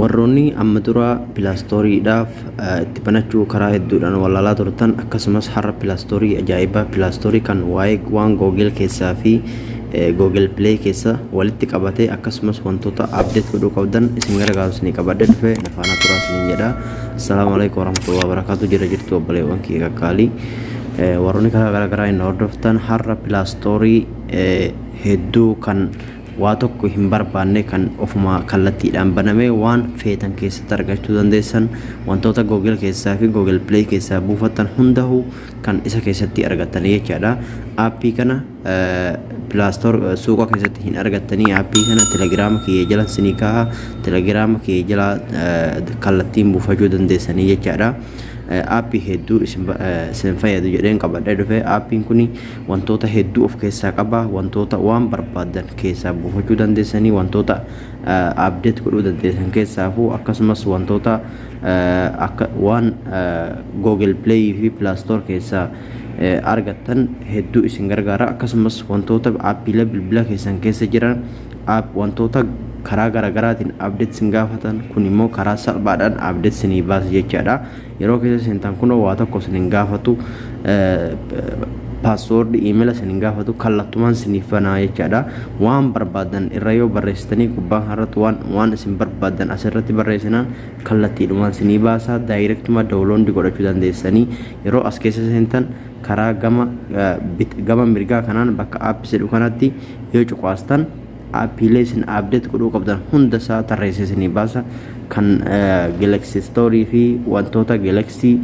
warroonni amma dura pilaastooriidhaaf itti banachuu karaa hedduudhaan walaalaa turtan akkasumas har'a pilaastoorii ajaa'ibaa pilaastoorii kan waa'ee waan googil keessaa fi googil pilee keessa walitti qabate akkasumas wantoota abdeet godhuu qabdan isin gargaaru isin qabadde dhufe nafaana turaa isin jedha assalaamu alaikum warahmatullahi wabarakaatu jira jirtu obboleewwan kiyya qaqqaalii warroonni karaa garaagaraa hin hordoftan har'a pilaastoorii hedduu kan waa tokko hin barbaanne kan ofuma kallattiidhaan banamee waan feetan keessatti argachuu dandeessan wantoota Google keessaa fi Google Play keessaa buufattan hundahu kan isa keessatti argattanii jechaadha. Aappii kana pilaastoor suuqa keessatti hin argattanii aappii kana telegiraama kiyya jala sinii kaaha telegiraama kiyya jala kallattiin buufachuu dandeessanii jechaadha. Aappii hedduu isin fayyadu jedheen qabadhee dhufe aappiin kuni wantoota hedduu of keessaa qaba wantoota waan barbaaddan keessaa buufachuu dandeessanii wantoota abdeet godhuu dandeessan keessaafuu akkasumas wantoota akka waan google play fi plaastoor keessaa argattan hedduu isin gargaara akkasumas wantoota aappiilee bilbila keessan keessa jiran wantoota karaa garaagaraatiin abdeet isin gaafatan kun immoo karaa salphaadhaan abdeet isinii baasa jechaadha Yeroo keessa seentan kunoo waa tokko isin hin gaafatu paaswoordi iimela isin hin gaafatu kallattumaan isiniif banaa jechaadha. Waan barbaadan irra yoo barreessitanii gubbaa kanarratti waan waan isin barbaadan asirratti barreessinaan kallattiidhumaan isinii baasaa daayirektumaa dawuloondii godhachuu dandeessanii yeroo as keessa seentan karaa gama gama mirgaa kanaan bakka aappi jedhu kanatti yoo cuqaastan Aappiilee isin update godhuu qabdan hunda isaa tarreessee isinii baasa. Kan Galaxy Store fi wantoota Galaxy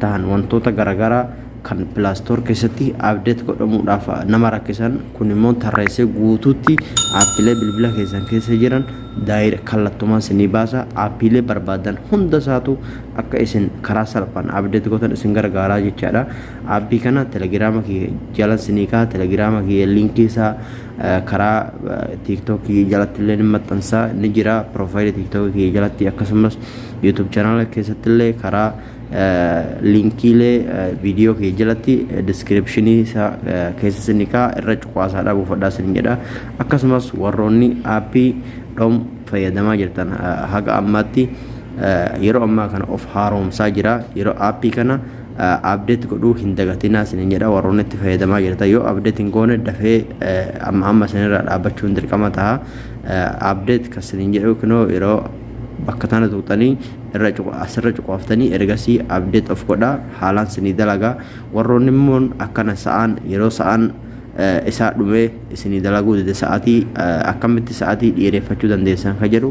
tahan wantoota garaagaraa kan Play Store keessatti update godhamuudhaaf nama rakkisan kun immoo tarreessee guutuutti aappiilee bilbila keessan keessa jiran daayir kallattumaan isinii baasa. Aappiilee barbaadan hunda isaatu akka isin karaa salphaan update gootan isin gargaaraa jechaadha. Aappii kana telegiraama kiyya jalan isinii ka'a telegiraama kiyya liinkii isaa karaa tiktok kiyya jalatti illee ni maxxansa ni jira profile tiktok kiyya jalatti akkasumas youtube channel keessatti illee karaa linkiilee viidiyoo kiyya jalatti description isaa keessa isin kaa irra cuqaasaa dha buufadhaa isin jedha akkasumas warroonni aappii dhom fayyadamaa jirtan haga ammaatti yeroo ammaa kana of haaromsaa jira yeroo aappii kana update godhuu hin dagatinaa isinin jedha warroonni itti fayyadamaa jirtan yoo update hin goone dafee amma amma isinirraa dhaabbachuun dirqama taha update kan isinin jedhu kunoo yeroo bakka tana tuqxanii irra asirra cuqaaftanii ergasii update of godha haalaan isinii dalaga warroonni immoo akkana sa'aan yeroo sa'aan isaa dhumee isinii dalaguu dide sa'atii akkamitti sa'atii dhiireeffachuu dandeessan ka jedhu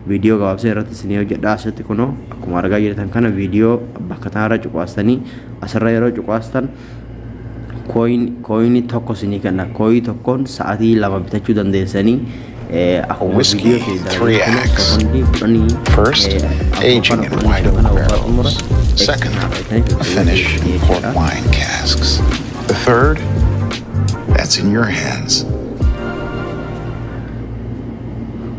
Viidiyoo gabaabsee irratti isinii hojjedha asitti kunoo akkuma argaa jirtan kana viidiyoo bakka tanarra cuqaastanii asirra yeroo cuqaastan kooyinii tokko isinii kenna kooyii tokkoon sa'atii lama bitachuu dandeessanii akkuma viidiyoo isinii dalagaa kun sekondii kudhanii First, aging in white oak barrels. Second, a finish in port wine casks. The third, that's in your hands.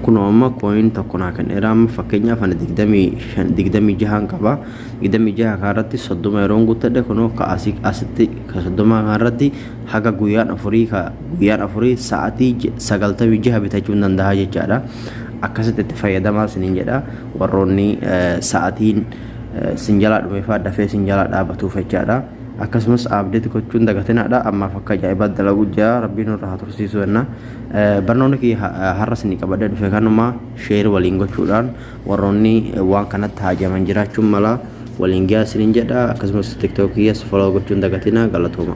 Kunoo amma coin tokko naa kenneera amma fakkeenyaaf ani digdamii shan digdamii jahaan qaba digdamii jaha kanarratti soddoma yeroon guuttadhe kunoo ka asii asitti ka soddomaa kanarratti haga guyyaan afurii ka guyyaan afurii sa'atii j- sagaltamii jaha bitachuu hin danda'a jechaadha akkasitti itti fayyadamaa isiniin jedha warroonni eh, sa'atiin eh, sin jalaa dhumeefaa dafee sin jalaa dhaabatuuf jechaadha akkasumas abdeet gochuun dagatinaadha ammaaf akka ajaa'ibaa dalaguu jira rabbiin irraa haa tursiisuu jenna Barnoonni kiyya har'a isinii qabadhee dhufe kanuma share waliin gochuudhaan warroonni waan kanatti haajaman jiraachuun mala waliin gahaa isiniin jedha akkasumas tiktok kiyyas follow gochuun dagatina galatooma.